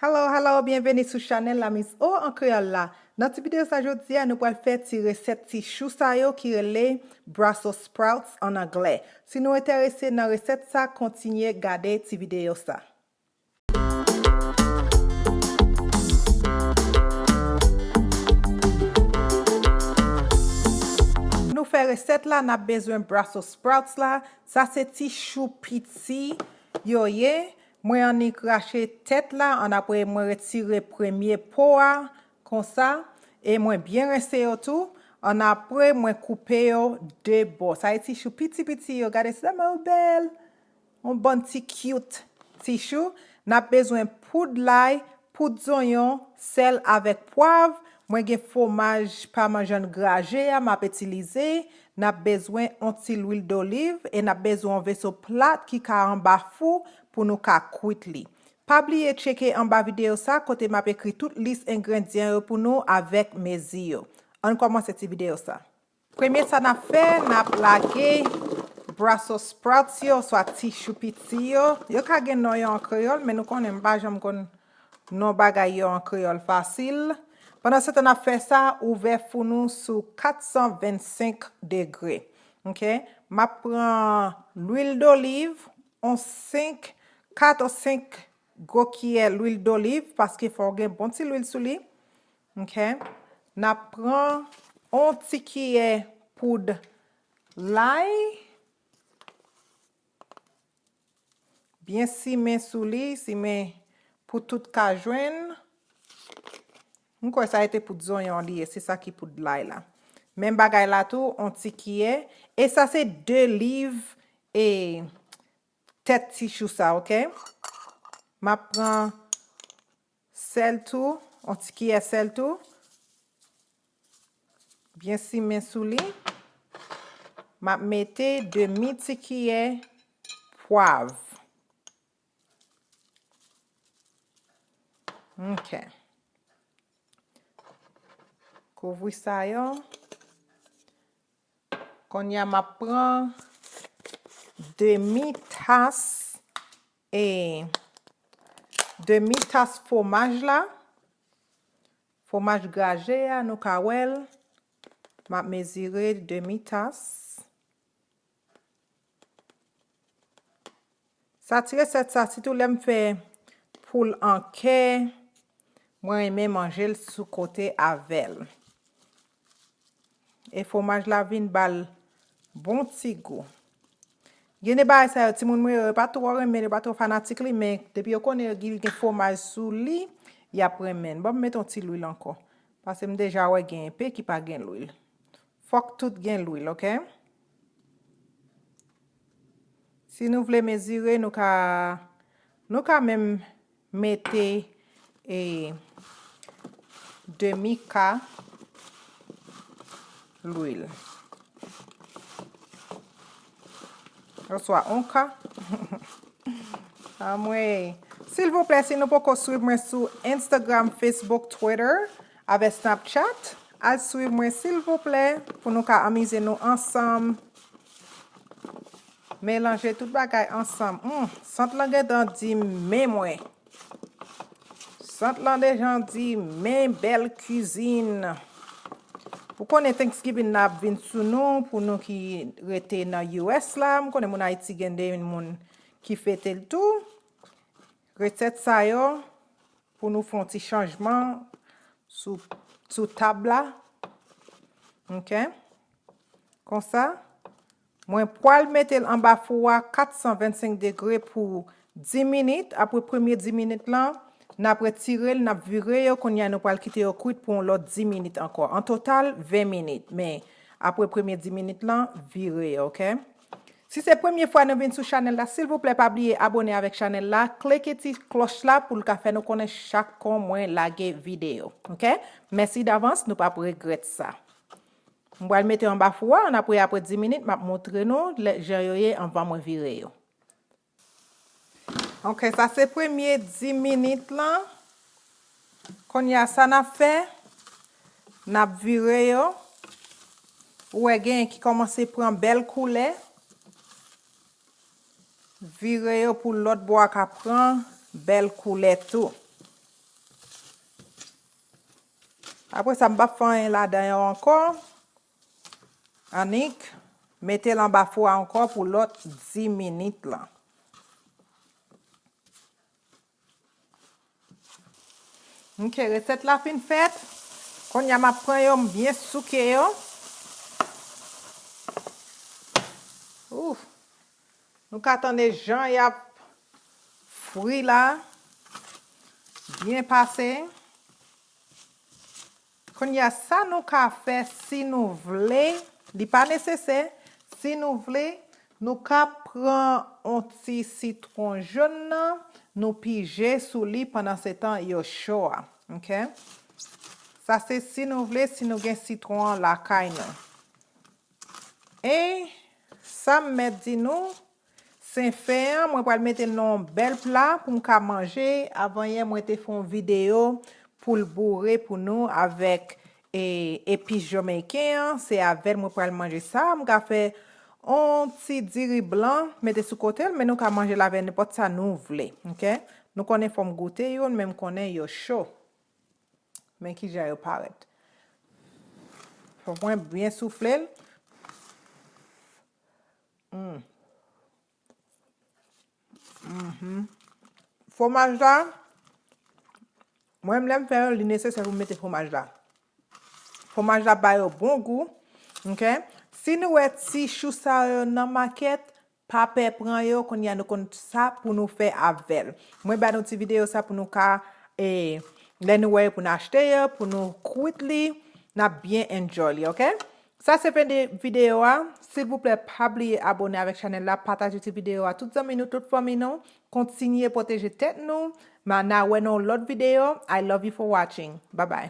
Hello hello byenveni sou chanèl la miss O an kreyòl la nan ti video sa jodia nou pral fè ti resèt ti chou sa yo ki rele Brussels sprouts an anglè si nou entèrese nan resèt sa kontinye gade ti video sa. Pou nou fè resèt la nap bezwen Brussels sprouts la sa se ti chou piti yo ye Mwen annik rache tèt la an apre mwen retire premye po a konsa e mwen byen rense yo tou an apre mwen koupe yo 2 bò sa e ti chou piti piti yo gade se tèlman yo bèl yon bann ti cute ti chou nap bezwen poud lay poud zonyon sèl avèk pwav mwen gen fwomaj pamanjan graje a map itilize N ap bezwen on ti lwil doliv e n ap bezwen on veso plat ki ka anba fou pou nou ka kwit li. Pa bliye tcheke anba videyo sa kote m ap ekri tout lis engrendyan yo pou nou avèk mezi yo. Ann kòmanse ti videyo sa. Premye sa n ap fè, n ap lage Brussels sprouts yo oswa ti chou piti yo. Yo ka gen non yo an kreyòl men nou konnen m pa janm konn Non bagay yo an kreyòl fasil. Pandansetan n ap fè sa, ouvè fou nou sou 425 degre. Ok. M ap pran lwil doliv, on 5, 4 ou 5 gwo kiyè lwil doliv, paske fò w gen bon ti lwil sou li. Ok. N ap pran on ti kiyè poud lay. Byen simen sou li, simen pou tout ka jwenn. M kwè sa e te poud zonyon li ye, se sa ki poud lay la. Menm bagay la tou, on ti kiyè. E sa se 2 liv e tèt ti chou sa, ok. M ap pran Sèl tou, on ti kiyè sèl tou. Byen simen sou li. M ap mete demi ti kiyè pwav. Ok. Kouvri sa yo. Konya m ap pran demi tas E demi tas fwomaj la, fwomaj graje a nou ka wè l, m ap mezire demi tas. Sa ti resèt sa sitou lè m fè poul an kè, Mwen renmen manjel sou kote avel. E fwomaj la vin bal bon ti gou. Gen de bagay sa yo timoun mwen yo pa twò renmen, yo pa twò fanatik li men depi yo konnen yo gil gen fwomaj sou li, yap renmen. Banm met yon ti lwil ankò. Pase m deja wè gen enpe ki pa gen lwil. Fòk tout gen lwil ok. Si nou vle mezire nou ka nou ka menm Mete e demi ka lwil. Oswa on ka. Amwey. Silvouplè si nou poko swiv mwen sou Instagram, Facebook, Twitter, avè Snapchat, al swiv mwen silvouplè pou nou ka amize nou ansanm. Melanje tout bagay ansanm. Humm sant lan gentan di men mwen. Sant lan dejan di men bèl kizin. Ou konnen Thanksgiving nan ap vin sou nou pou nou ki rete nan US la. M konnen moun Ayiti gen de moun ki fete l tou. Resèt sa yo pou nou fon ti chanjman sou tab la. Ok. Konsa, mwen pwal mete l anba fou a 425 degre pou 10 minit, apre premye 10 minit lan, nap retire l, nap vire yo, kounye a nou pwal kite yo kwit pou yon lòt 10 minit ankò, an total 20 minit, men apre premye 10 minit lan, vire yo ok. Si se premye fwa nou vin sou chanèl la, silvouplè pa bliye abone avèk chanèl la, kleke ti klòch la pou l ka fè nou konnen chak kon mwen lage videyo ok, mèsi davans nou pap regrèt sa. M pral mete anba fou a an apre apre 10 minit map moutre nou lè jan yo ye anvan mwen vire yo. Ok sa se premye 10 minit lan kounya sa nap fè nap vire yo ou wè genyen ki kòmanse pran bèl koulè vire yo pou lòt bò a ka pran bèl koulè tou. Apre sa m pap fè anyen ladan yo ankò annik mete l anba fou a ankò pou lòt 10 minit lan. Ok resèt la fin fèt konnya map pran yo m byen souke yo. Ooh. Nou ka tande jan yap fri la byen pase. Kounye a sa nou ka fè si nou vle, li pa nesesè, si nou vle nou ka pran yon ti sitron jaune nan nou pije sou li pandan se tan yo cho a ok. Sa se si nou vle si nou gen sitron an lakay nou. Anh sam mèt di nou sen fen an mwen pral mete l nan yon bèl pla pou m ka manje avan yè mwen te fè yon video poul boure pou nou avèk e epis jomeyken an se avèl mwen pral manje sa m ka fè yon ti diri blan mete sou kote l men nou ka manje l avè nenpòt sa nou vle ok nou konnen fòm goute youn men m konnen yo cho. Men ki jan yo parèt. Fòk mwen byen soufle l. Hum. Mhm. Fwomaj la, mwen menm lè m fè yo, li nesesè pou m mete fwomaj la. Fwomaj la ba yo bon gou. Ok? Si nou wè ti chou sa yo nan makèt, Pa pè pran yo kounya nou konn sa pou nou fè avèl. Mwen ba nou ti video sa pou nou ka e lè nou wè yo pou nou achte yo pou nou kwit li nap byen enjoy li ok. Sa se fen de video a, silvouplè pa bliye abone avèk chanèl la, pataje ti video a tout zanmi nou, tout fanmi nou, kontinye pwoteje tèt nou, ma na wè nan yon lòt video, I love you for watching, babay.